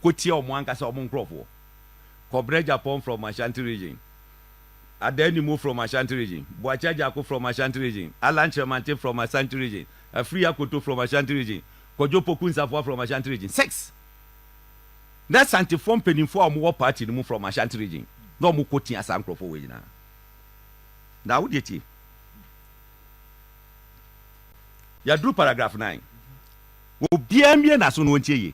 Kɔ tia ɔmo ankasa ɔmo nkorɔfoɔ. Kɔbrɛ Agyapong from Ashanti region, Adaa Nimo from Ashanti region, Boakye Agyako from Ashanti region, Allan Kyeremantey from Ashanti region, Afriyie Akoto from Ashanti region, Kojo Poku Nsafoa from Ashanti region. Six. Na Asantefoɔ mpaninfoɔ a ɔmo wɔ party no mu from Ashanti region na ɔmo kɔ tia saa nkorɔfoɔ wei nyinaa. Na wo deɛ tie. Yɛaduru paragraph nine. Obiara mmue n'aso na ɔntie yie.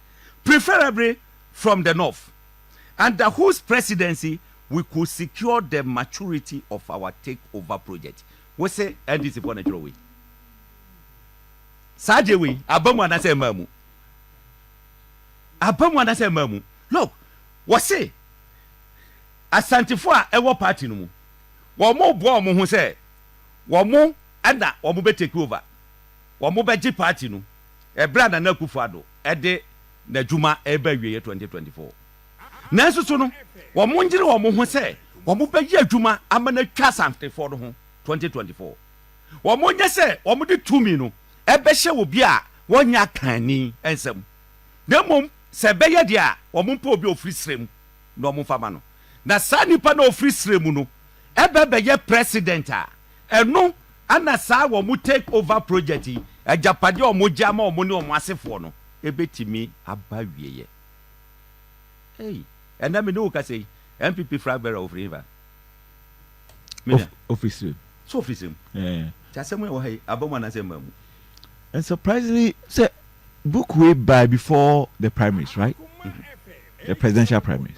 preferably from the North, under whose presidency we could secure the maturity of our take over project. Wo se NDC foɔ na ɛtwerɛ wei? Saa deɛ wei aba mu anaasɛ ɛmaa mu? Aba mu anaasɛ ɛmaa mu? Look, wɔ se Asantefoɔ a ɛwɔ party no mu, wɔn boa wɔn ho sɛ wɔn ɛna wɔn bɛ take over. wɔbɛgye party no ɛberɛ a Nana Akufo-Addo de n'adwuma reba awieɛ 2024. Nanso so no wɔnyere wɔn ho sɛ wɔbɛyɛ adwuma ama no atwa Asantefoɔ no ho 2024? Wɔnyɛ sɛ wɔde tumi no bɛhyɛ obi a wɔnyɛ akanni nsam, na mmom sɛ ɛbɛyɛ deɛ a wɔmpɛ obi a ɔfiri serɛ mu na wɔmfa ma no, na saa nipa no a ɔfiri serɛ mu no ba bɛyɛ President a, Ɛno na saa wɔn take over project yi, agyapadeɛ a wɔgye ama wɔn ne wɔn asefoɔ no, ɛbɛtumi aba awieɛ. Ei, ɛnnɛ me ne wo kasa yi, NPP flag bearer ɔfiri he fa? Me nua. Ɔfiri Serem. So ɔfiri Serem? Ɛɛ. Nti asɛm yɛ wɔ ha yi, aba mu anaasɛ ɛmmaa mu? And surprisingly, sɛ book wei bae before the primaries, right? The presidential primaries.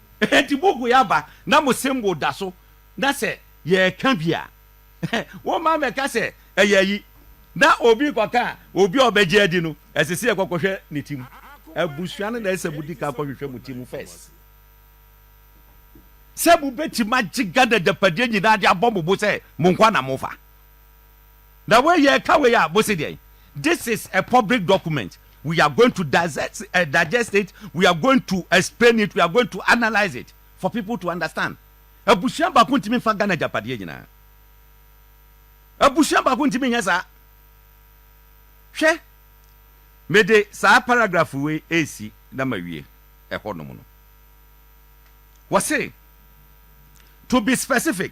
Enti mugui aba na mo se mbo da so, na sɛ yɛreka bi a, woma mɛka sɛ ɛyɛ ayi, na obi rekɔka a, obi a ɔbɛgye adi no, ɛsɛ sɛ yɛkɔ kɔhwɛ ne ti mu. Abusua no na ɛsɛ sɛ mudi kan kɔhwehwɛ mo ti mu first sɛ mobɛtumi agye Ghana agyapadeɛ nyinaa de abɔ mo bo sɛ mo nkoa na mofa. Na wei yɛ ka wei a mo se deɛn? This is a public document we are going to digest, uh, digest it we are going to explain it we are going to analyse it for people to understand. Abusua baako ntumi nfa Ghana agyapadeɛ nyinaa. Abusua baako ntumi nyɛ saa. Hwɛ, mede saa paragraph wei esi na mawie ɛhɔnom no. Wɔse, to be specific,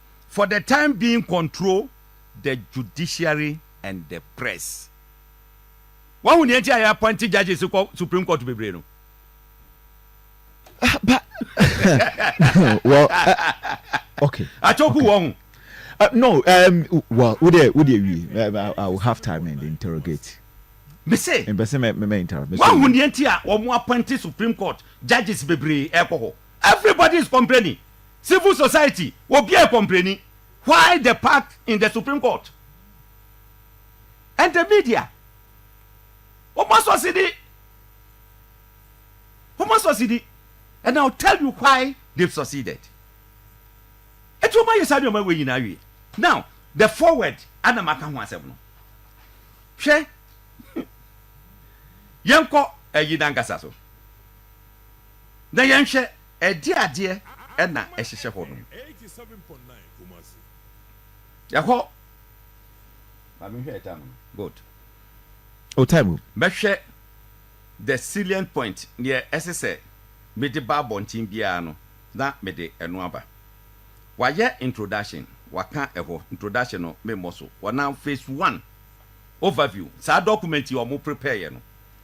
for the time being control the judiciary and the press. Wahu nea nti a yɛapɔnte judges kɔ Supreme Court bebree no? But, well, uh, okay. Atoku okay. wɔn. Uh, no, um, well, would they, would they, we, uh, I will have time and interrogate. Mese. Mbese me me me interrupt. Wahu nea nti a wɔn apɔnte Supreme Court judges bebree ɛkɔ hɔ. Everybody is complaining, civil society obiaa ɛkɔmpleni, why the pact in the supreme court and the media wɔn asɔ sidi wɔn asɔ sidi and I will tell you why they've succeeded eti wɔn ayɛ saa nneɛma wei nyinaa awie now the forward ana maka ho asɛm no hwɛ yɛnkɔ ayi nankasa so. na yɛnhwɛ ɛdeɛn adeɛ na ɛhyehyɛ hɔ nom. Ɛhɔ, ma me nhwɛ time no, good. O time o. Mɛhwɛ the salient point, deɛ ɛsɛ sɛ mede ba abɔnten biara no, na mede ɛno aba. Wayɛ introduction, waka ɛhɔ, introduction no memmɔ so. Wɔnam phase one, overview, saa document yi a wɔn prepareɛ no,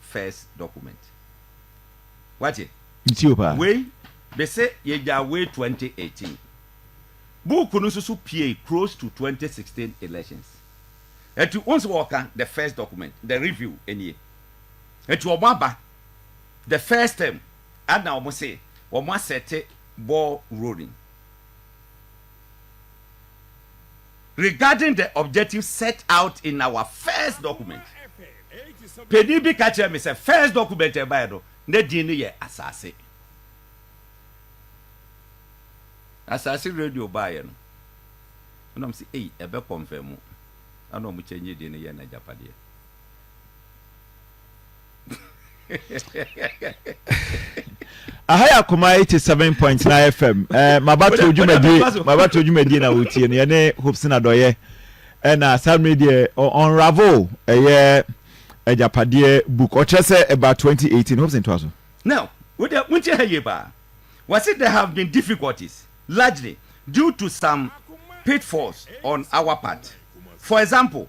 first document wate wei bese yɛgyaa wei twenty eighteen book no soso piee close to twenty sixteen elections ɛti wohu sɛ wɔka the first document the review ɛnie ɛti wɔn aba the first term ana wɔn se wɔn asɛte ball rolling. Regarding the objective set out in our first document, panin bi ka kyerɛɛ me sɛ first document a ɛbaeɛ no, na din no yɛ Asase. Asase radio baeɛ no, ɛna wɔn sɛ, ei, ɛbɛ kɔnfɛmu, ɛna wɔn kyɛngye din no yɛɛ no Agyapadeɛ. aha yɛ akoma eighty seven point nine fm ɛɛ mabato dwumadie mabato dwumadie na wotie no yɛne hopsin adɔyɛ ɛna saa mmiri deɛ ɔnravel ɛyɛ agyapadeɛ book ɔkyerɛ sɛ ɛba twenty eighteen hopsin to aso. now wode wontie ha yie paa wɔse there have been difficulties largely due to some pitfalls on our part for example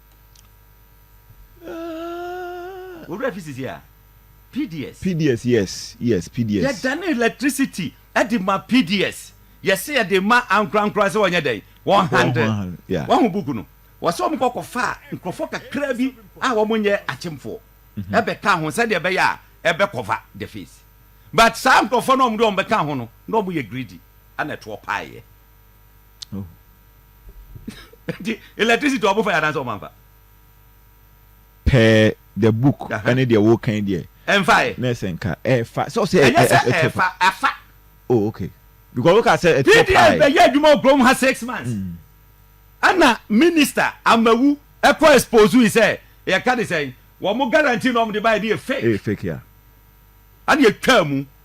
Owura fi sisi a, PDS. PDS yes yes PDS. Yɛ dane electricity de ma PDS, yɛ se yɛ de ma ankorankora se wɔn nyɛ dɛn? Wɔn handle. Wɔn ho book no, wɔ se wɔn kɔ kɔ faa nkorɔfoɔ kakra bi a wɔn nyɛ akyemfoɔ bɛ kaa ho sɛdeɛ ɛbɛyɛ a ɛbɛ cover the face. But saa nkorɔfoɔ no a wɔn de wɔn bɛ kaa ho no, na wɔn yɛ greedy ɛna ɛtoɔ paaeɛ. nti electricity ɔmo fa yɛ anaasɛ ɔmo anfa. per the book ɛne deɛ wokan deɛ ɛnfa yɛ na ɛsɛ nka ɛfa sɛ ɔsɛ ɛnyɛ sɛ ɛfa afa oh okay because woka sɛ ɛtɔ paa pds bɛyɛ adwuma wɔ kurom ha six months ɛna mm. minister amawu ɛkɔ expose yi sɛ yɛka de sɛn wɔn guarantee na wɔn de ba yɛ de yɛ fake fake ya ɛna yɛtwa mu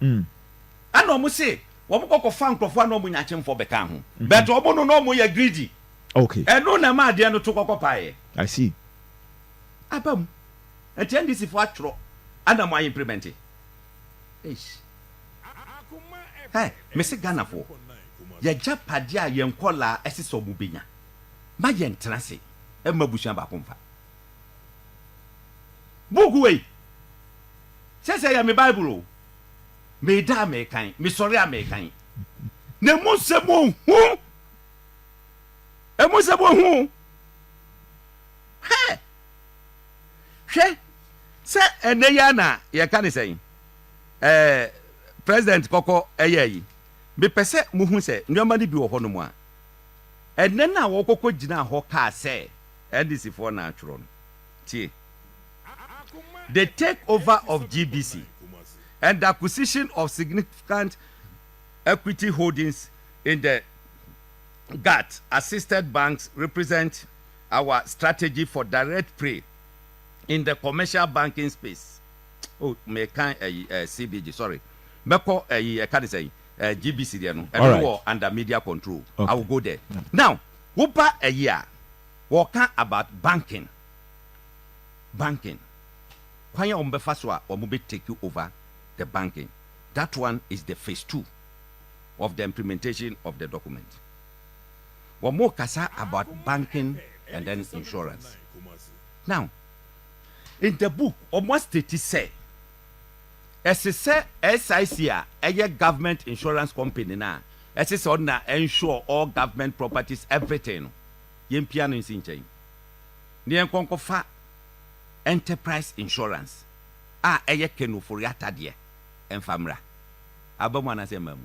Mm. Ɛna ɔmo se wɔn kɔ kɔfa nkorɔfoɔ a na ɔmo nya akyemfoɔ bɛkaa ho. Mhm. But ɔmo no na ɔmo yɛ greedy. Okay. Ɛno na ɛma adeɛ no to kɔkɔ paeɛ. I see. Aba mu. Nti NDC foɔ atwerɔ ɛna mo a implement. Eish. Hɛ, mese Ghana foɔ, yagyapadeɛ a yɛn nkɔlaa ɛsesɛ ɔmo bɛnya, ma yɛn tena ase mma abusua baako mfa. Book wei. Sɛsɛ yɛ me bible o. Meda a mekan, mesɔre a mekan. Na emu nsɛm ohu. Emu nsɛm ohu. Hɛ! Hwɛ sɛ ɛnɛ yi na yɛka ne sɛn? Ɛɛ president kɔkɔ ɛyɛ yi. Mepɛ sɛ muhu sɛ nneɛma no bi wɔ hɔnom a ɛnɛ no a wɔkɔkɔ gyinaa hɔ kaa sɛ. LDCfoɔ na atwerɛ no. Tie. The take over of GBC and the acquisition of significant equity holdings in the GATT assisted banks represent our strategy for direct prey in the commercial banking space. Oh, me kan ɛyi eh, eh, CBG, sorry. Mɛkɔ ɛyi eh, ɛka ne sɛn eh, GBC deɛ no, ɛno wɔ under media control. Okay. I will go there. Yeah. Now, Wo ba ɛye a wɔka about banking banking kwan a wɔn bɛfa so a wɔn bɛ take over the banking that one is the phase two of the implementation of the document wɔn kasa about banking and then insurance now in the book wɔn a state sɛ Ɛse sɛ SIC a ɛyɛ government insurance company no a ɛse sɛ ɔno na ɛnsure all government properties everything no yɛmpia no nsi nkyɛn na yɛnkɔ nkɔfa enterprise insurance a ɛyɛ Kenneth Ofori-Atta deɛ mfa mmra. Aba mu anaasɛ mmaa mu?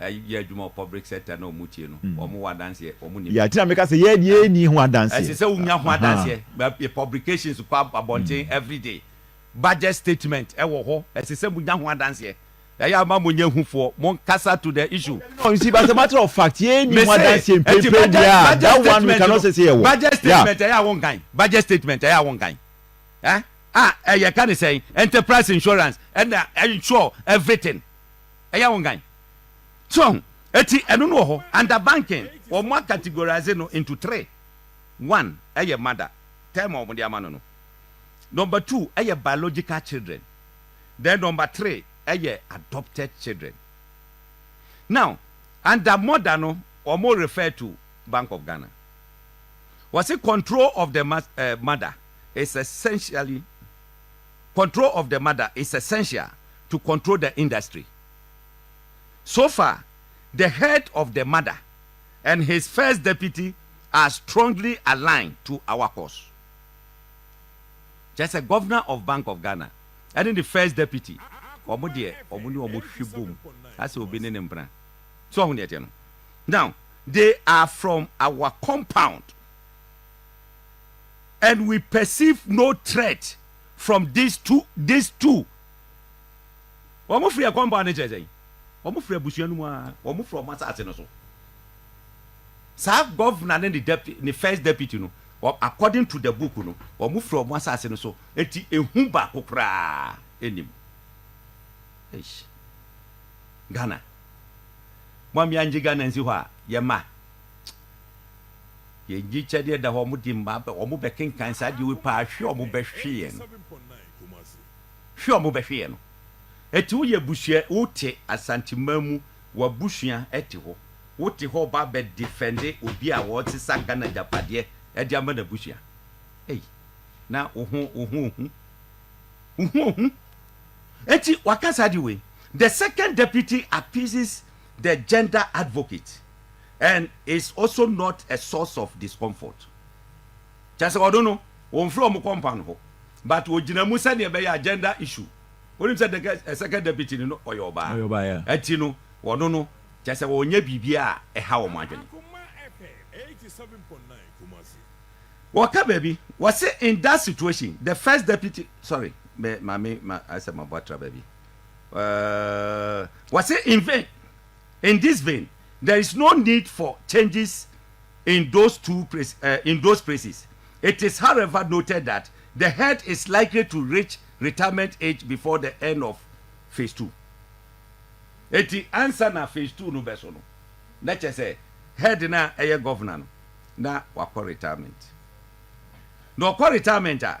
yɛ adwuma wɔ public sector na wɔn tie no, wɔn wɔ adanseɛ, wɔn nim. Yeah, tina meka sɛ yɛ deɛ yɛ ni ho adanseɛ. Ɛsɛ sɛ wonya ho adanseɛ, yɛ publications kɔ abɔnten every day, budget statement ɛwɔ hɔ, ɛsɛ sɛ monya ho adanseɛ, ɛyɛ ama mo nyɛ hufoɔ, mo nkasa to the issue. No, you see, but as a matter of fact, yɛ ni ho adanseɛ mpempem biara, that one we cannot say sɛ yɛ wɔ. Budget statement ɛyɛ a wɔn kan, budget statement ɛyɛ a wɔn kan, eh, ah, ɛyɛ ka ne sɛn, enterprise insurance, ɛna ensure everything. ɛyɛ wo ngan. So wahu? Eti ɛno no wɔ hɔ. Under banking, wɔn a categorize no into three. One ɛyɛ mother, term a wɔn de ama no no. Number two ɛyɛ biological children. Then number three ɛyɛ adopted children. Now, under mother no, wɔn refer to Bank of Ghana. Wɔsi control of the mother is essentially. control of the mother is essential to control the industry so far the head of the mother and his first deputy are strongly aligned to our cause kyerɛ sɛ governor of bank of Ghana ɛne ne first deputy wɔn deɛ wɔn ne wɔn hwe bom asɛ obi ne ne mpena so ɔho deɛ teɛ no now they are from our compound. and we perceive no threat from these two these two wɔn firi ɛkɔm bɔ ano kyerɛ sɛn wɔn firi abusua no mu a wɔn firi wɔn asaase no so saa gɔvna ne ne deputy ne first deputy no according to the book no wɔn firi wɔn asaase no so eti ehu baako koraa enim eish ghana mo amia ngye ghana nsi hɔ a yɛ ma. Yɛn gyikyɛdeɛ da hɔ, wɔde mmaa bɛ, wɔbɛkenkan saa adeɛ wei paa, hwe wɔbɛhwe yɛn, hwe wɔbɛhwe yɛn no. Ɛti woyɛ abusua, wote Asanteman mu, w'abusua ɛte hɔ, wote hɔ ɔba abɛ defɛnde obi a ɔresesa Ghana agyapadeɛ ɛde ama n'abusua. Ei, na wo ho, wo ho ohu, wo ho ohu. Ɛti waka saa adeɛ wei, the second deputy appeases the gender advocate. And it's also not a source of discomfort. Kyerɛ sɛ ɔno no, wɔmfrɛ wɔn kɔ mpan hɔ. But wɔgyina mu sɛdeɛ ɛbɛyɛ a gender issue. Wonim sɛ dɛkɛ ɛ second deputy no no ɔyɛ ɔbaa. Ɔyɛ ɔbaa, yeah. Ɛti no, ɔno no, kyerɛ sɛ wɔnyɛ biribiara a ɛha wɔn adwene. Wɔka baabi, wɔse in that situation, the first deputy, sorry, me, ma me, ma, asɛ mabɔ atra baabi. Uh, wɔse in vain, in this vein, There is no need for changes in those two in those places. It is however noted that the head is likely to reach retirement age before the end of phase two. Eti ansa na phase two no bɛso no, na kyerɛ sɛ head no a ɛyɛ governor no, na wakɔ retirement. Na ɔkɔ retirement a,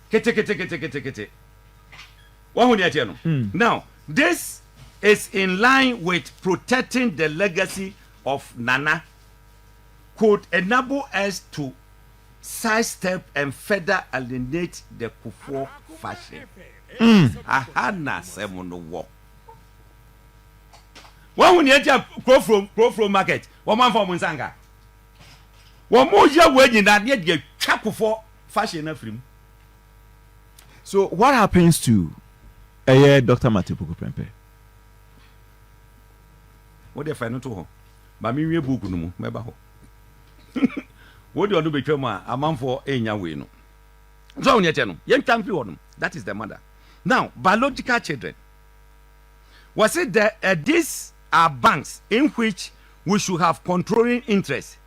Keteketeketekete. Wahu nea ɛteɛ no? Now, this is in line with protecting the legacy of Nana could enable us to side step and further alienate the Kufuor faction. Aha na asɛm no wɔ. Wahu nea ɛteɛ Kurofurom, Kurofurom market, wɔn amfa wɔn nsa anka. Wɔn yɛ wei nyinaa ne yɛde atwa Kufuor Fa hyeɛ no afiri mu. So what happens to ɛyɛ Doctor Mate Opoku Prempeh? Wo deɛ fa ɛno to hɔ. Ma me nwie book no mu, mɛba hɔ. Wo deɛ ɔno bɛtwa mu a, amanfoɔ ɛnya wei no. So wo deɛ kyɛ no, yɛn twa mfiri hɔ nom. That is the mother. Now, biological children. Wɔse the, uh, these are banks in which we should have controlling interest.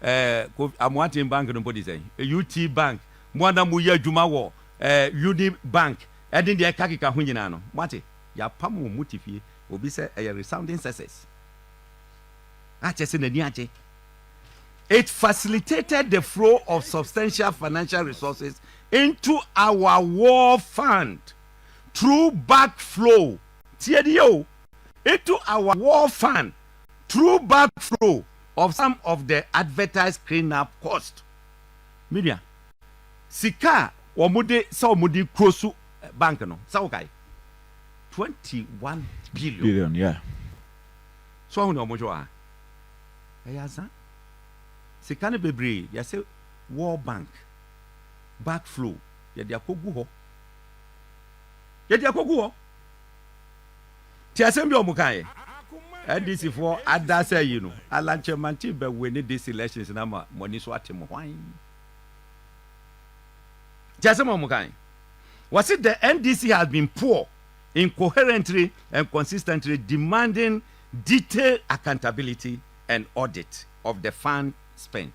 eh, Kofi, Amoaten Bank no mpo de sɛn, eh, UT Bank, mo a na mo yɛ adwuma wɔ eh, Uni Bank, ɛne deɛ ɛka keka ho nyinaa no, mo ate, yɛapam wɔn mo te fie, obi sɛ ɛyɛ resounding success, akyɛ sɛ n'ani agye. It facilitated the flow of substantial financial resources into our war fund through back flow, tie ni o, into our war fund through back flow, of some of the advertised cleanup cost, me nua, sika a wɔde sɛ wɔde close bank no, sɛ wokae, twenty one billion. Billion, yeah. So wahu nea wɔhwɛ wɔ ha? Ɛyɛ ansa. Sika no bebree, yɛsɛ World Bank, back flow, yɛde akɔgu hɔ. Yɛde akɔgu hɔ. Tie asɛm bi a wɔkaeɛ. NDC foɔ adasa yi no, Alan Kyerematen bɛ winne this elections na ama mo ani so ate mo hwan? Tie asɛm a wɔkaeɛ. Wɔse the NDC has been poor, incoherently and consistently demanding detailed accountability and audit of the fund spent.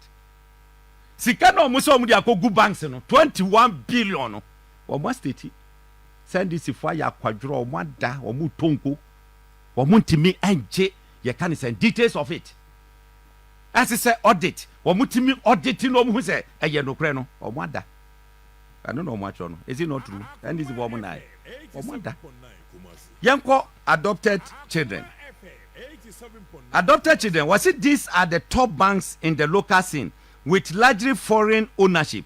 Sika na wɔn sɛ wɔn de akɔgu banks no, 21 billion no, wɔn astate. Sandisifo ayɛ akwadworɔ, wɔn ada, wɔn retɔ nko, wɔn ntumi ngye, yɛka no sɛn, details of it, ɛse sɛ audit, wɔn tumi audit na wɔn hu sɛ ɛyɛ nokorɛ no, wɔn ada, ɛno na wɔn atwerɛ no, is it not true, Sandisifo wɔn nnaɛ, wɔn ada, yɛnkɔ adopted children, adopted children, wɔse these are the top banks in the local scene with largely foreign ownership.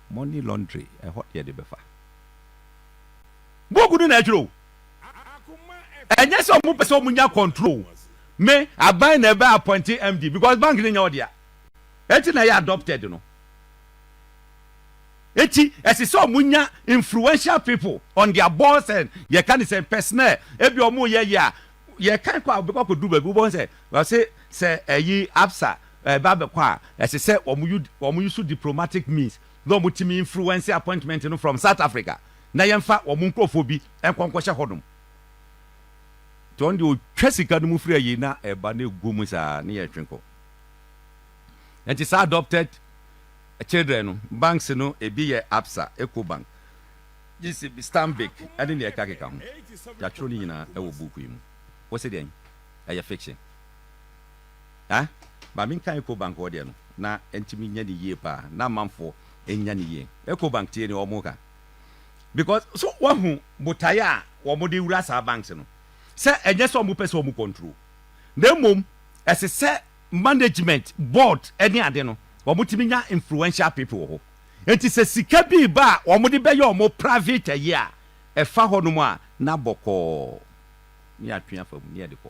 Money laundry ɛhɔ deɛ de bɛfa. Book no na ɛtwerɛ o. Ɛnyɛ sɛ ɔmo pɛ sɛ ɔmo nya control. Me aban na ɛbɛ appoint MD because bank no nyɛ ɔdea. Ɛti na ɛyɛ adopted no. Ɛti ɛsɛ sɛ ɔmo nya influential people on their boards and yɛ ka ne sɛ personnel. Ɛbi ɔmo yɛ yɛ a yɛ kan kɔ a ɔbɛkɔ akɔduru baabi wobɛhu sɛ ɔse sɛ ɛyi Absa Ɛba bɛkɔ a, ɛsɛ sɛ wɔn use diplomatic means na wɔn tumi influence appointment no from South Africa na yɛnfa wɔn nkorɔfoɔ bi nkɔ nkɔhyɛ hɔ nom. Nti ɔno deɛ ɔtwa sika no mu firi ayie na ɛba na ɛgu mu saa na yɛtwe kɔ. Nti saa adopted children no banks no ɛbi yɛ Absa, Ecobank, GCB, Stanbic ɛne nea ɛkeka keka ho. Yɛatwerɛ ne nyinaa ɛwɔ book yi mu. Wo se deɛn? Ɛyɛ fiction. Ah, Maame nka Ecobank hɔ deɛ no, na ɛntumi nyɛ no yie paa, na amanfoɔ nnya no yie. Ecobank tie deɛ wɔreka. Because, so woahu botaeɛ a wɔde wura saa banks no? Sɛ ɛnyɛ sɛ wɔpɛ sɛ wɔn control, na mmom ɛsɛ sɛ management, board ne ade no, wɔtumi nya influential people wɔ hɔ. Enti sɛ sika bi reba a wɔde bɛyɛ wɔn private ayi a, ɛfa hɔnom a, na bɔkɔɔ, na yɛatwe afa mu, na yɛde kɔ.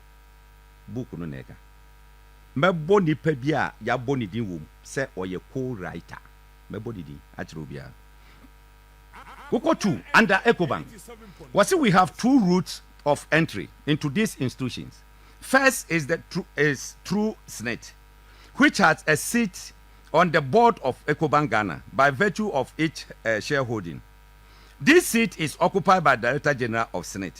book no na ɛka. Mɛbɔ nipa bi a yɛabɔ ne din wom sɛ ɔyɛ co-writer. Mɛbɔ ne din akyerɛ obiara. Wokɔ tu under Ecobank, wɔse we have two routes of entry into these institutions. First is the is through SSNIT, which has a seat on the board of Ecobank Ghana by virtue of its shareholding. This seat is occupied by Director General of SSNIT.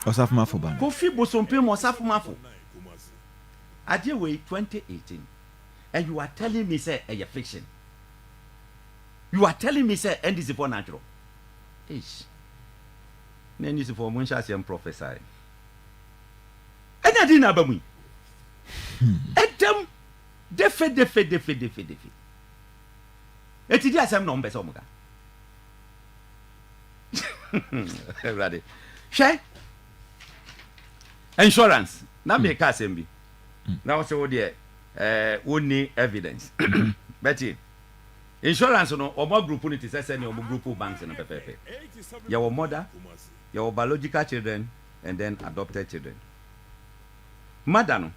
Ɔsafomafo ba no. Kofi Bosompem mu Ɔsafomafo Agye wei 2018 and you are telling me sɛ ɛyɛ fiction? You are telling me sɛ NDC foɔ na atwerɛ? Eish! Na NDC foɔ mo nhyɛ aseɛ mprɔfɛsae. Ɛnna dii na aba mu yi? Ɛdam defedefedefedefedefe. Eti di asɛm na wɔn pɛ sɛ wɔn ka. awurade hwɛ insurance na hmm. meka asɛm bi hmm. na wo sɛ wo deɛ eh, wonni evidence hmm. bɛtie insurance no ɔmo group no te sɛ sɛnea ɔmo group banks no pɛpɛpɛ yɛwɔ mother yɛwɔ biological children and then adopted children mother no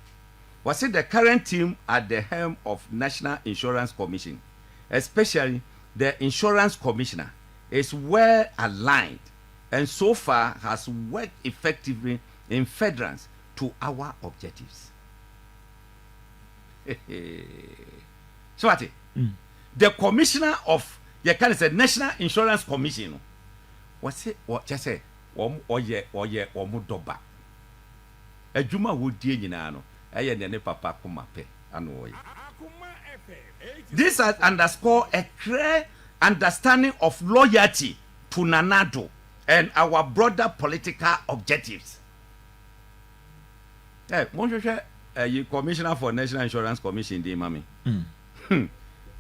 wɔse the current team at the helm of national insurance commission especially The Insurance Commissioner is well aligned and so far has worked effectively in furtherance to our objectives. So what? The Commissioner of yɛ ka ne sɛ National Insurance Commission no, wɔse wɔ kyɛ sɛ wɔn ɔyɛ ɔyɛ wɔn dɔba. Adwuma a wodie nyinaa no, ɛyɛ nea ne papa koma pɛ na ɔyɛ. This has underscored a clear understanding of loyalty to Nana Addo and our broader political objectives. Hey, monhwehwɛ ayi Commissioner for National Insurance Commission din ma me. Hmm.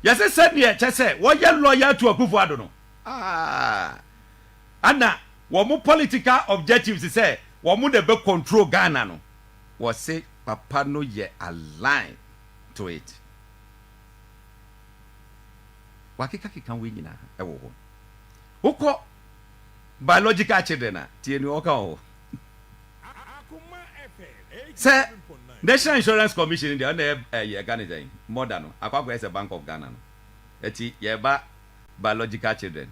Yɛsɛ sɛdeɛ ɛkyɛ sɛ wɔyɛ loyal to Akufo-Addo no. Ah. ana wɔn political objectives sɛ wɔn na ɛbɛ control Ghana no wɔse papa no yɛ align to it wakeka keka wei nyina wɔ hɔ wokɔ biological children a tie nea ɔka wɔ sɛ national insurance commission deɛ ɔna ɛyɛ ɛka ne sɛn mɔda no akɔ akɔyɛ sɛ bank of Ghana no ɛti yɛba biological children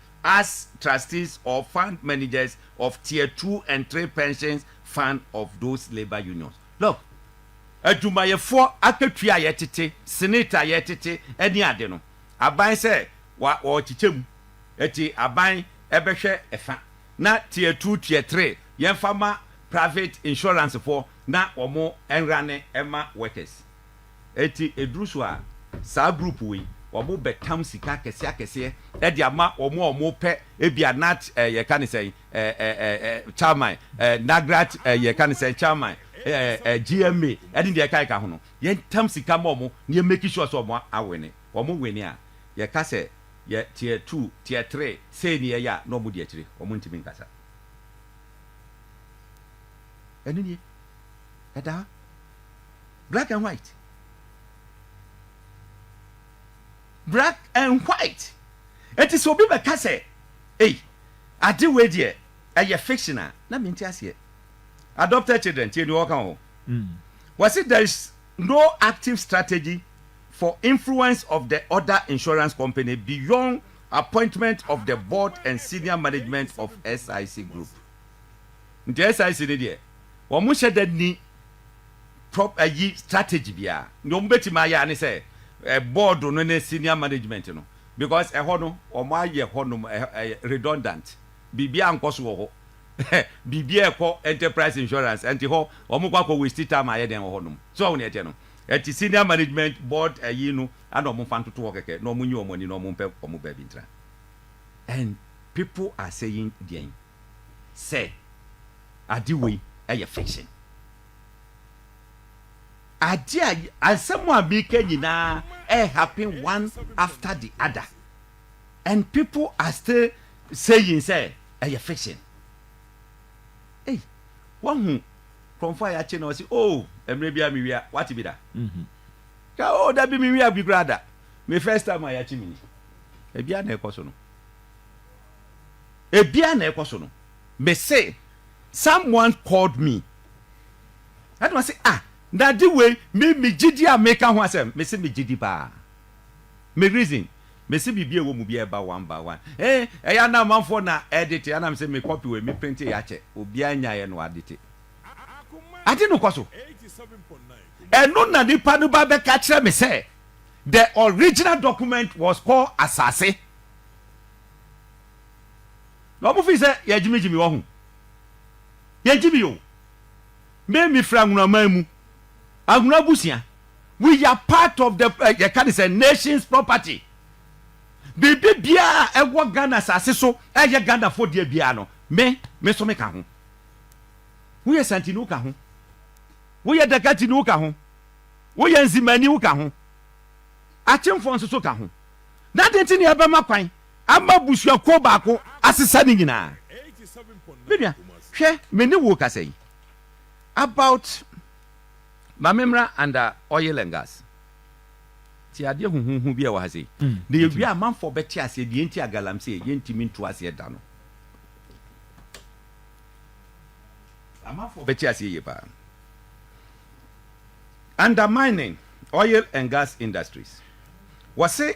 as trustees or fund managers of tier two and three pensions fund of those labour unions. Look, adwumayɛfoɔ akatua a yɛtete, senate a yɛtete ne ade no, aban sɛ wa ɔrekyekyɛ mu, ɛti aban ɛbɛhwɛ ɛfa, na tier two, tier three yɛmfa ma private insurance foɔ na wɔn ɛnrane ɛma workers. Enti ɛduru so a, saa group wei, wɔn bɛtam sika akɛseɛ akɛseɛ de ama wɔn a wɔpɛ ebia nat eh, yɛka ne sɛn, eh, eh, eh, eh, chairman, eh, nagrat, eh, yɛka ne sɛn, chairman, eh, eh, GMA, ɛne deɛ ɛka ɛka ho no. Yɛntam sika ma wɔn na yɛmaki sure sɛ wɔn awene. Wɔn wene a, yɛka sɛ yɛ tier two, tier three, sei ne yɛyɛ a, na wɔn di akyire. Wɔn ntumi nkasa. Ɛno nie. Ɛda ha. Black and white. Black and white. Eti sɛ obi bɛka sɛ, ei, ade wei deɛ ɛyɛ fiction a, na mente aseɛ. Adopted children, tie deɛ ɔka o. Mm. Wɔse there is no active strategy for influence of the other insurance company beyond appointment of the board and senior management of SIC group. Nti SIC ne deɛ, wɔn hyɛ da ni prop ayi strategy biara nea wɔn betumi ayɛ ara ne sɛ ɛ board no ne senior management no because ɛhɔ no wɔn ayɛ hɔ nom ɛyɛ redundant biribi ankɔ so wɔ hɔ biribi a ɛkɔ enterprise insurance ɛnti hɔ wɔn kɔ akɔ waste time ayɛ dɛn wɔ hɔ nom so wɔn nea ɛteɛ no ɛnti senior management board ayi no ana wɔn fa ntoto hɔ kɛkɛ na wɔn nyi wɔn ani na wɔn mpɛ wɔn baabi ntra and people are saying deɛn sɛ ade wei ɛyɛ fiction. Ade a asɛm a meka nyinaa ɛyɛ happen one after the other and people are still saying sɛ ɛyɛ fiction. Ei, wahu nkurɔfoɔ a yɛakye na wɔse oh mmerɛ biara mewia, wate bi da? Ka oh da bi mewia bi koraa da, me first time a yɛakye me ni. Ebia na ɛkɔ so no. Ebia na ɛkɔ so no. Me se someone called me ɛna ɔse ah Nade wei me me gyidi a meka ho asɛm mese me gyidi paa me reason mese biribi a ɛwɔ mu biara ɛba one by one ee ɛyɛ ana amanfoɔ na edite ana mese me copy wei me printe yɛ akyɛ obiara nyaeɛ na wadite ade no kɔ so ɛno na nipa no ba bɛka kyerɛ me sɛ the original document was called asase Na ɔmo fii sɛ yɛgyimigyimi wɔ ho. Yɛnte bio. Me me firi Anhunu aman mu. Anhunu abusua. We are part of the eh, yɛka ne sɛ nation's property. Biribi biara a ɛwɔ Ghana asase so ɛyɛ Ghanafo deɛ biara no, me me nso meka ho. Woyɛ Santini woka ho. Woyɛ Dakatini woka ho. Woyɛ Nzimani woka ho. Akyemfoɔ nso so ka ho. Na ade nti ne ɛbɛma kwan Ama abusuakuo baako asesa ne nyinaa. Me nua, hwɛ, me ne wo rekasa yi, about ma me mmra under oil and gas. Tie adeɛ huhuuhu bi a ɛwɔ ha sei. Na yɛwie a, amanfoɔ bɛte aseɛ deɛ enti a Galamsey yɛntumi ntu aseɛ da no. Amanfoɔ bɛte aseɛ yie paa. Under mining, oil and gas industries, wɔse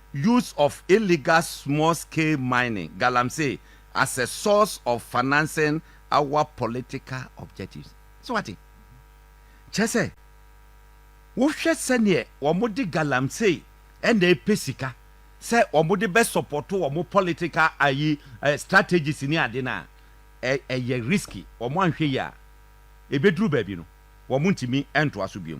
Use of illegal small scale mining, galamsey, as a source of financing our political objectives. So what? Kyerɛ sɛ, wohwɛ sɛdeɛ wɔde galamsey na ɛpɛ sika sɛ wɔde bɛ support wɔn political ayi strategies ne ade no a, ɛyɛ risky. Wɔn anhwɛ yie a, ɛbɛduru baabi no, wɔntumi ntoa so bio.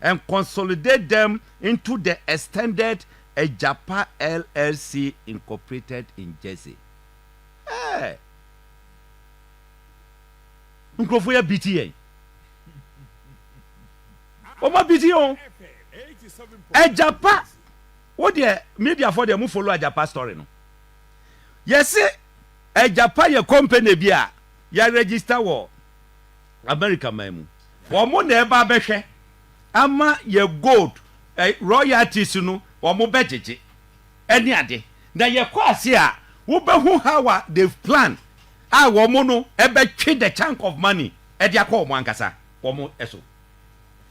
and consolidate them into the extended Agyapa LLC Incorporated in Jersey. Hey! Nkurɔfoɔ yɛ biti yɛn. Wɔn abiti yɛn o. Agyapa, wo deɛ mediafoɔ deɛ mo follow Agyapa story no. Yɛse Agyapa yɛ company bi a yɛ register wɔ America man mu. Wɔn na ɛba abɛhwɛ ama yɛ gold eh, royalties no wɔn bɛgyegye ɛne ade. Na yɛkɔ ase a wobɛhu how a they've plan a wɔn no ɛbɛtwe the chunk of money ɛde akɔ wɔn ankasa wɔn ɛso.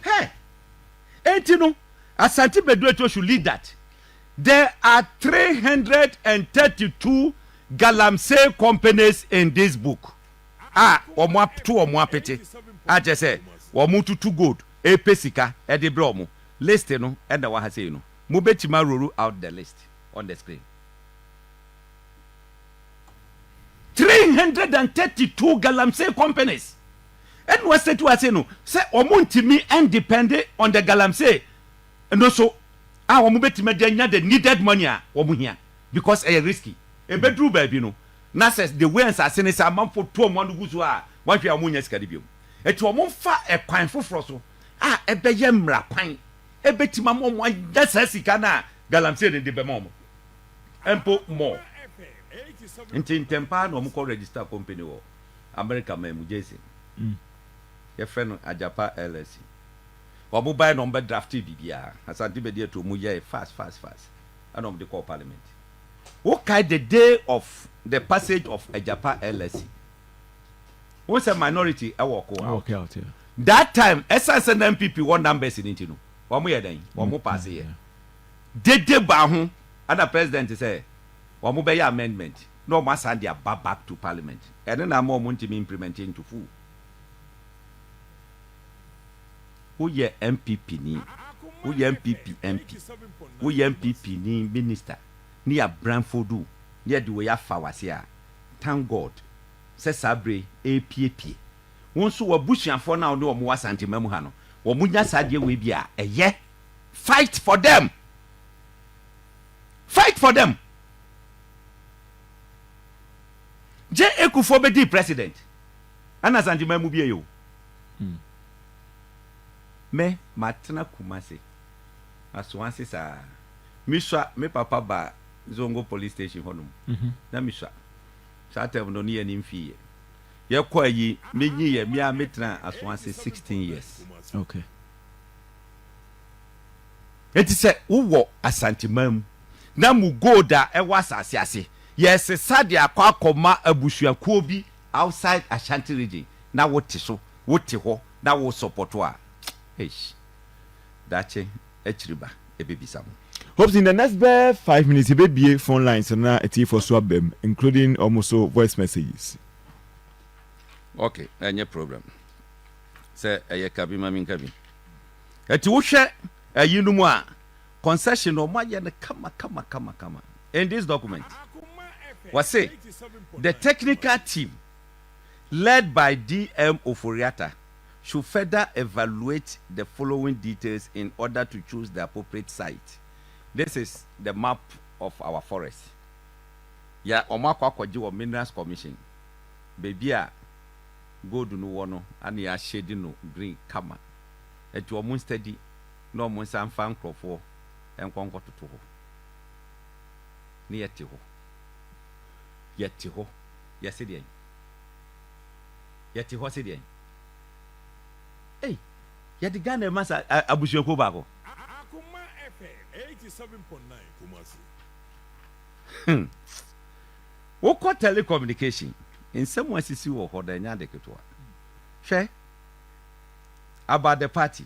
Hɛ! Enti no Asante Beduetwo should lead that. There are three hundred and thirty two galamsey companies in this book. a wɔato wɔn apete a kyerɛ sɛ wɔretutu gold repɛ sika de brɛ wɔn. List no na ɛwɔ ha sei no. Mobɛtumi aroru out the list on the screen. Three hundred and thirty two galamsey companies na wɔasɛti wɔ ha sei no sɛ wɔntumi ndepɛnde on the galamsey no so a wɔbɛtumi de anya the needed money a wɔhia because ɛyɛ risky. Ɛbɛduru baabi no Na sɛ the way nsase ne sɛ amanfoɔ tu wɔn ano gu so a, wɔnhwɛ a wɔnnya sika no bio. Enti wɔmfa ɛkwan foforɔ so a ɛbɛyɛ mmara kwan ɛbɛtumi ama wɔn anya saa sika no a Galamsey no de bɛma wɔn mpo more. Nti ntɛm paa na wɔkɔ register company wɔ Amerika man mu, Jason. Yɛfrɛ no Agyapa LLC. Wɔbae na wɔbɛdraftee biribiara. Asante Bedi atuo wɔyɛe fast fast fast ɛna wɔde kɔɔ parliament. wokae the day of the passage of Agyapa LSC. Wohu sɛ minority ɛwɔ ko out. That time, ɛsan sɛ na NPP wɔ numbers no nti no, wɔn yɛ dɛn? Wɔn paase yɛ. Dede baa ho, ɛna president sɛ wɔn bɛyɛ amendment na wɔn asan de aba back to parliament. Ɛno na ama wɔn ntumi implement into full. Woyɛ NPP ni, woyɛ NPP MP, woyɛ NPP ni minister ne yɛ abranfodu ne yɛde wei afa wase a, thank God sɛ saa bere yi ɛrepiepie. Wo nso w'abusuafoɔ no a wo ne wɔn wɔ Asanteman mu ha no, wɔn nya saa adeɛ wei bi a, ɛyɛ. Fight for them! Fight for them! Gye Ekufoɔ bɛdii president, ɛna Asanteman mu bie yɛ o. Me matena Kumasi Asoase saa mesua me papa baa Zongo police station hɔ nom na mesua saa term no ne yɛne no mfii yɛ yɛkɔ ayi menyi yɛ me a metena Asoase 16 years okay enti sɛ wowɔ Asante man mu na mo gold a ɛwɔ asase ase yɛsesa de akɔ akɔma abusuakuo bi outside Ashanti region na wo te so, wo te hɔ na wo sɔpɔto a, eish, daakye akyiri ba ɛbɛbisa mo. Hope in the next bɛyɛ five minutes yɛbɛbue phone lines no na atiefoɔ nso aba mu including wɔn nso voice messages. Ok, ɛnyɛ problem sɛ ɛyɛ ka bi ma menka bi. Ɛti wohwɛ ayinom a Concession no ɔmo ayɛ no kama kama kama kama in this document wɔse the technical team led by DM Ofori-Atta should further evaluate the following details in order to choose the appropriate site this is the map of our forest yɛ ɔmo akɔ akɔgye wɔ minerals commission baabi a gold no wɔ no ana yɛ ahyɛdi no green kama nti ɔmo nstadi Na wɔn nsa mfa nkurɔfoɔ nkɔ nkɔtoto hɔ. Ne yɛte hɔ, yɛte hɔ, yɛse deɛn? Yɛte hɔ se deɛn? Ei! Yɛde Ghana rema sa a abusuakuo baako? Akoma FM eighty seven point nine Kumasi. Hmm. Wokɔ telecommunication, nsɛm a asisi wɔ hɔ no, ɛnyɛ ade ketewa. Hwɛ, about the party.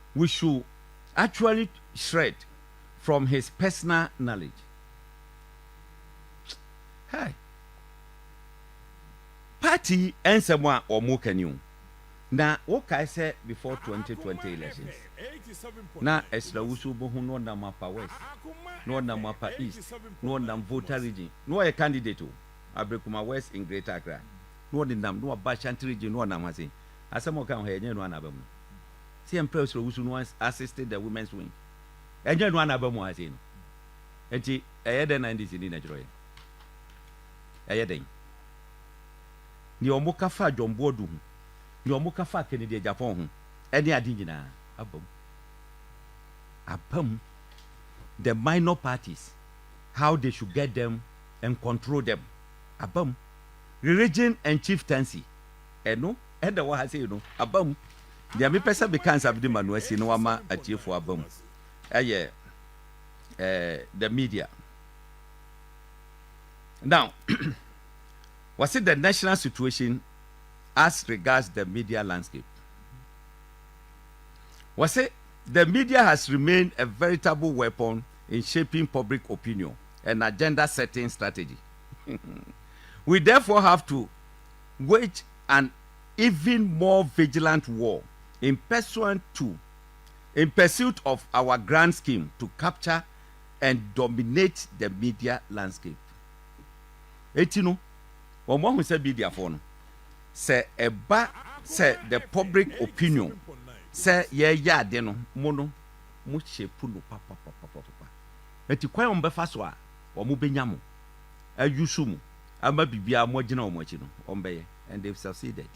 We should actually shred from his personal knowledge hey party yi ɛnsɛm a wɔn ka ni o na wo kae sɛ before twenty twenty elections na ɛsra wusu bo ho na ɔnam apa west na ɔnam apa east na ɔnam voter region na ɔyɛ candidate o abrekuma west in greater accra na ɔde nam na ɔba ashanti region na ɔnam ha se asɛm ɔka ho yɛ nyɛ no anaba mu. sɛ yɛmpɛ ɔsoro wusu no assist the women's wing ɛnyɛ no anaba mu ase no nti ɛyɛ dɛn na ndc ni na kyerɛ yɛn ɛyɛ dɛn nea wɔn ka fa John Boadu ho nea wɔn ka fa Kennedy Agyapong ho ɛne ade nyinaa aba mu aba mu the minor parties how they should get them and control them aba mu religion and chieftaincy ɛno Ɛda hɔ ha sei no, aba mu. Deɛ mepɛ sɛ meka nsa mede ma no asie na wama atiefoɔ aba mu ɛyɛ eh, the media. Now, wɔse the national situation as regards the media landscape. Wɔse the media has remained a veritable weapon in shaping public opinion and agenda setting strategy. We therefore have to wage an even more vigilant war in pursuant to in pursuit of our grand scheme to capture and dominate the media landscape. Eti no, wɔn ahu sɛ mediafoɔ no, sɛ ɛba sɛ the public opinion sɛ yɛreyɛ ade no, mo no, mo shape no papapapapapa. Eti kwan a wɔbɛfa so a wɔbɛnya mo adwu so mu ama biribiara a moagyina wɔn akyi no, wɔbɛyɛ. And they've succeeded.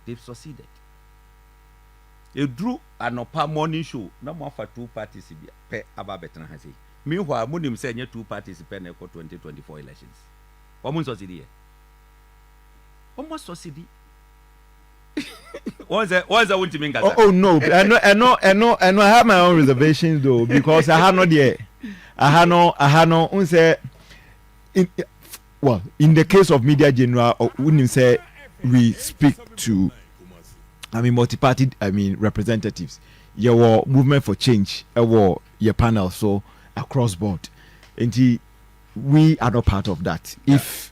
They've succeeded. Eduru anɔpa morning show na moafa two parties bi pɛ aba abɛtena ha sei. Meanwhile, monim sɛ ɛnyɛ two parties pɛ na ɛkɔ 2024 elections. Wɔn nsɔsidi yɛ. Wɔn asɔsidi. wọ́n sẹ́ wọ́n sẹ́ wọ́n ti mi nkasa. oh oh no ẹnu ẹnu ẹnu ẹnu i have my own reservations though because aha no deɛ aha no aha no n sɛ in well in the case of media general wunim oh, sɛ we speak to i mean multi party i mean representatives yɛwɔ movement for change ɛwɔ eh, yɛ panel so across board nti we are not part of that yeah. if.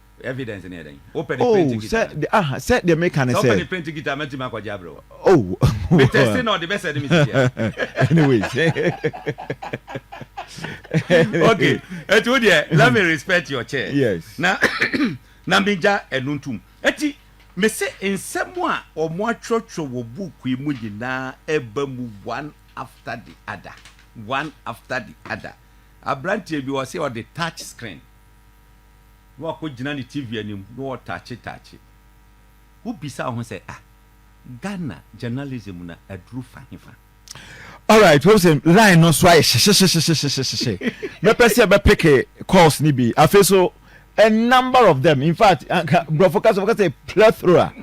Evidence no yɛ dɛn? Wopɛ ne print Oh, sɛ guitar no? de, ah, sɛ deɛ meka ne Sɛ wopɛ sɛ. ne print guitar a, mɛtumi akɔgye abrɛ wo. Oh, Me tɛste na ɔde bɛsɛde me sisi a. Anyways. Okay, enti wo deɛ, let me respect your chair. Yes. Na, na megya ɛno ntom. Enti, mese nsɛm a wɔatwerɛtwerɛ wɔ book yi mu nyinaa ɛba mu one after the other, one after the other. Aberanteɛ bi, ɔse ɔde touch screen. na wakɔgyina ne TV anim na ɔɔtaakye taakye. Wo bisa wo ho sɛ ah Ghana journalism no aduru fa he fa? Alright, wohu sɛ line no nso ayɛ hyehyehyehyehyehyehye. Mɛpɛ sɛ yɛbɛpeke calls no bi. Afei so, a number of them, in fact, anka borɔfo kasa wɔka sɛ plethora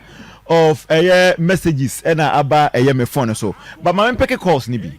of ɛyɛ messages ɛna aba ɛyɛ me phone no so. But ma mempeke calls no bi.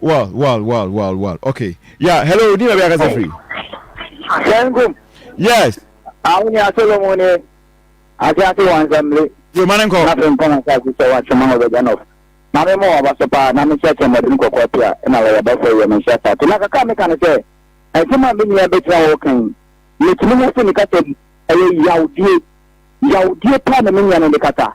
Well, well, well, well, well. Okay. Yeah, hello, Dina Biaka Zafri. Sengum. Yes. Awuni Asolomu ni Asiasi Wansamle. Yo, Manenko. Nafe mpona sasi sɛ wakyema hɔ bɛgya nɔf. Na me mo ɔba so paa, na me hyɛ kyɛ mɔden kɔkɔɔ pia, na wɔyɛ bɛsɛ yɛ me hyɛ saa. Te na kaka meka ne sɛ, ɛsɛm a me nua bɛgyina hɔ kan yi, metumi ho fi ne kasa mu, ɛyɛ yawdie. Yawdie paa na me nua no de kasa.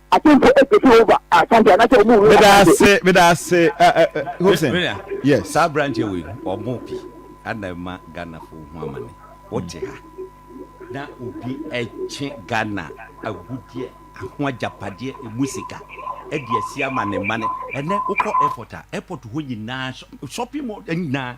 atemfo epɛ fi over asante anasɛ wɔn wura meda asante. ase meda ase ɛ ɛ ɛ hobson Mena, yes saa aberanteɛ wei no, ɔbɔ pi ana ɛma Ghanafoɔ hu amane. Wote ha na obi ɛtwe Ghana agudeɛ, ho agyapadeɛ, ɛmu sika ɛde asi ama ne mma no. Ɛnɛ wokɔ airport a, airport hɔ nyinaa, shop, shopping mall nyinaa,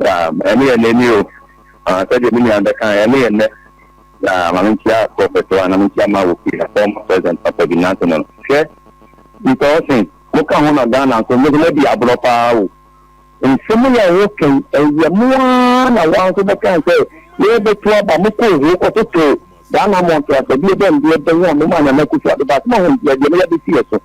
Um, ɛno yɛ nnɛ ni o. Ah, sɛdeɛ me nua bɛka, ɛno yɛ nnɛ. Na ma menkyia prɔfɛt wa, na menkyia ma wɔ fie ha, former president papa bi, nanso no, hwɛ, nka ɔse, moka ho na Ghana nso, mo nso moadi aborɔ paa o. Nsɛm yi a woka yi, ɛyɛ mo ara na wɔn nso bɛkae sɛ, yɛrebɛto aba, mokɔɔ hoo kɔtotoo Ghana mmɔntoasɛdeɛ bɛn deɛ bɛn a momaa Nana Akufo-Addo baa, so mahu deɛ deɛ moyɛ de si yɛ so.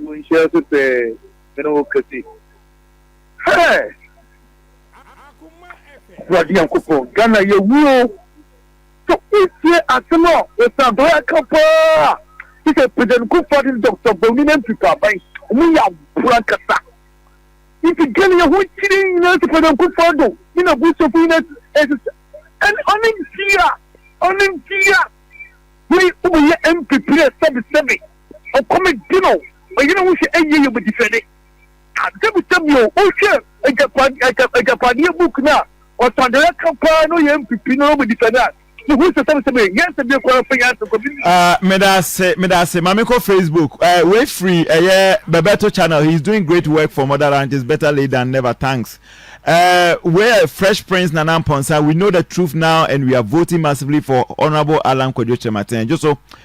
Wo nhyɛ ase pɛɛ me ne wo kesi hɛɛ. Awurade Nyankopɔn Ghana yɛwu o. So wotie asem a Osadoi aka paa te sɛ President Kuffo Ado ne Doctor Bawumia ne MP Paban ɔmo yɛ aboa ankasa nti Ghana yɛ ho kyere nyinaa sɛ President Kuffo Ado ne n'abusuafo nyinaa ɛsesɛ ɛne ɔne ntia ɔne ntia wei wobɛyɛ MP pire sɛbesɛbe. ɔkɔm de no, ɔyɛ ne ho sɛ ɛnyɛ yie bɛdi fɛ de, adebisa bio. Wohwɛ Agyapadeɛ book no a, ɔsadɔeɛ ka paa na ɔyɛ mpipi na ɔbɛdi fɛ no a, wohu sɛ sɛbesɛbe nyansa bie koraa mfa nyansa nkɔ bi. Medase medase ma me kɔ Facebook wei firi ɛyɛ Bebeto channel he is doing great work for mother ranches better late than never thanks wei yɛ fresh prince Nana Mponsa we know the truth now and we are voting massively for honourable Allan Kwadwo Kyerematen gyoso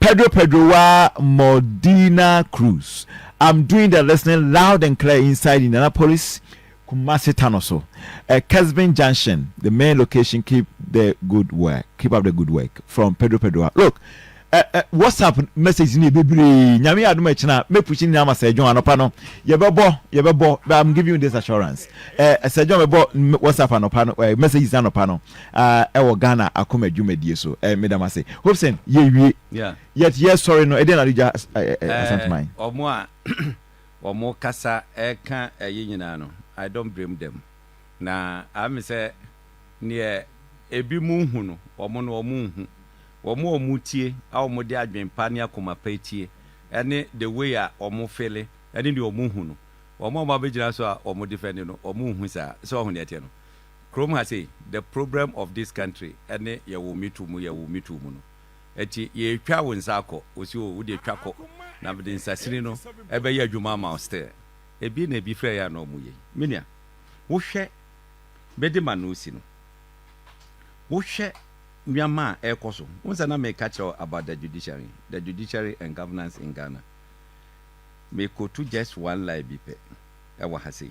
Pedro Pedro wa Modena Cruz I'm doing the listening loud and clear inside Indianapolis Kumasi Tano so eh, Kesbin Junction the main location keep the good work keep up the good work from Pedro Pedro wa look eh, eh, WhatsApp message ni bebree nyame adom ɛkyena mɛpushi nyinaa ma Sir John anɔpa no yɛbɛbɔ yɛbɛbɔ but I'm giving you this assurance eh, Sir John bɛbɔ WhatsApp anɔpa no eh, messages anɔpa no a ɛwɔ Ghana akoma dwumadie so ɛ meda mo ase Hobson yɛ wie yɛt yɛ sɔre no ɛdeɛn na ade gya ɛ Asanteman. Ɔmo a ɔmo kasa ɛka ɛyi nyinaa no I don't blame them na ame sɛ neɛ ebi mo nhu no ɔmo no ɔmo nhu ɔmo a ɔmo tie a ɔmo de adwen pa ne akoma pa tie ɛne the way a ɔmo fele ɛne neɛ ɔmo hu no ɔmo a ɔmo abɛgyina so a ɔmo defɛnde no ɔmo nhu saa sɛ ɔho neɛ ɛteɛ no Kurom ha sei, the problem of this country ne yɛwo me too mu yɛwo me too mu no. Ɛti yɛtwa wo nsa akɔ, wɔsi o wodeɛ twa kɔ na mede nsasini no bɛyɛ adwuma ama wo still. Ɛbi na ɛbi frɛ yɛ a na ɔmo yɛ yi. Me nua, wohwɛ mede ma no si no, wohwɛ nneɛma a ɛrekɔ so, wohu sɛ na meka kyerɛ wo about the judiciary, the judiciary and governance in Ghana. Me quote just one line bi pɛ ɛwɔ ha sei.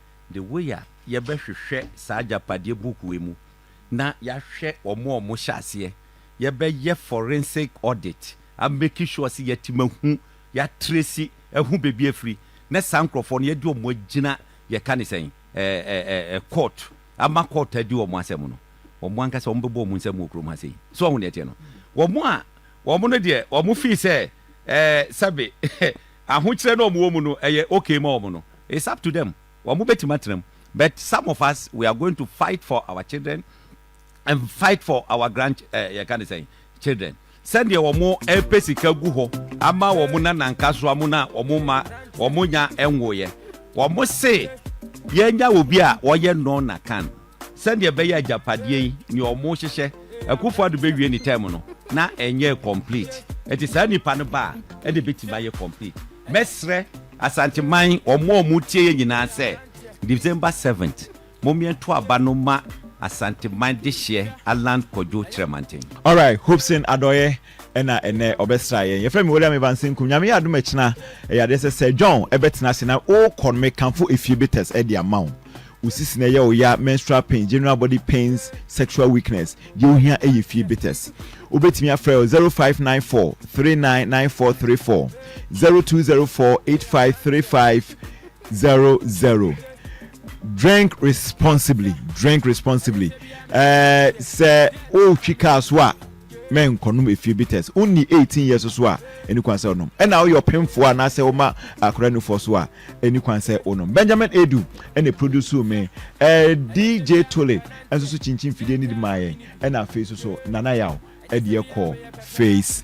The way a yɛbɛhwehwɛ saa agyapadeɛ book wei mu na yɛahwɛ wɔn a wɔhyɛ aseɛ, yɛbɛyɛ forensic audit a make sure sɛ yɛatumi ahu, yɛatresi ahu baabi a afiri, na saa nkorɔfoɔ no yɛde wɔn agyina yɛka no sɛn ɛɛ court ama court adi wɔn asɛm no, wɔn ankasa wɔbɛbɔ wɔn nsam wɔ kurom ha sei. So wahu deɛ ɛteɛ no? Wɔn a wɔn no deɛ wɔn feel sɛ ɛɛ sɛbe ahokyerɛ no a wɔn wɔ mu no ɛyɛ okay ma wɔn no, It's up to them wɔn bɛtumi atena mu but some of us we are going to fight for our children and fight for our grand eh, yɛka ne sɛn children sɛdeɛ wɔn ɛpɛ sika gu hɔ ama wɔn nananka so amu na wɔn ma wɔn nya ɛnwoyɛ wɔn se yɛnya obi a wɔyɛ nɔɔna kan Sɛdeɛ ɛbɛyɛ agyapadeɛ yi neɛ ɔmo hyehyɛ Akuffo Addo bɛwie ne term no na ɛnyɛɛ complete nti saa nipa no ba a ɛna ɛbɛtumi ayɛ complete. Mɛsrɛ Asanteman ɔmo a ɔmo tie yɛn nyinaa sɛ December seventh momeɛ nto aba no ma Asanteman dehyeɛ Allan Kwadwo Kyerɛmanten. Alright, Hopeson Adɔeɛ na ɛnnɛ ɔbɛsraa yɛn. Yɛfrɛ me William Evans Senkum. Nyame yɛ adom a ɛkyena ɛyɛ adeɛ sɛ Sir John bɛtena ase na ɔrekɔ no mekamfo Efie Betes de ama wo. Wo sisi na ɛyɛ wo ya, menstrual pain, general body pains, sexual weakness. Deɛ wohia yɛ fie bitters. Wobɛtumi afrɛ wɔ 0594 399434, 0204 853500. Drink responsibly, drink responsibly. Eh, sɛ wotwi kaa so a, mɛnkɔnom efie bitters. Wonni 18 years so a, ɛni kwan sɛ wonom. Ɛna woyɛ ɔpemfoɔ anaasɛ woma akora nufoɔ so a, Ɛni kwan sɛ wo nom. Benjamin Adu na ɛprodusuu me. Ɛɛ DJ Tulip nso so kyinkyin fidie no de maa yɛn. Ɛna afei nso so Nana Yaw de yɛ kɔɔ Face.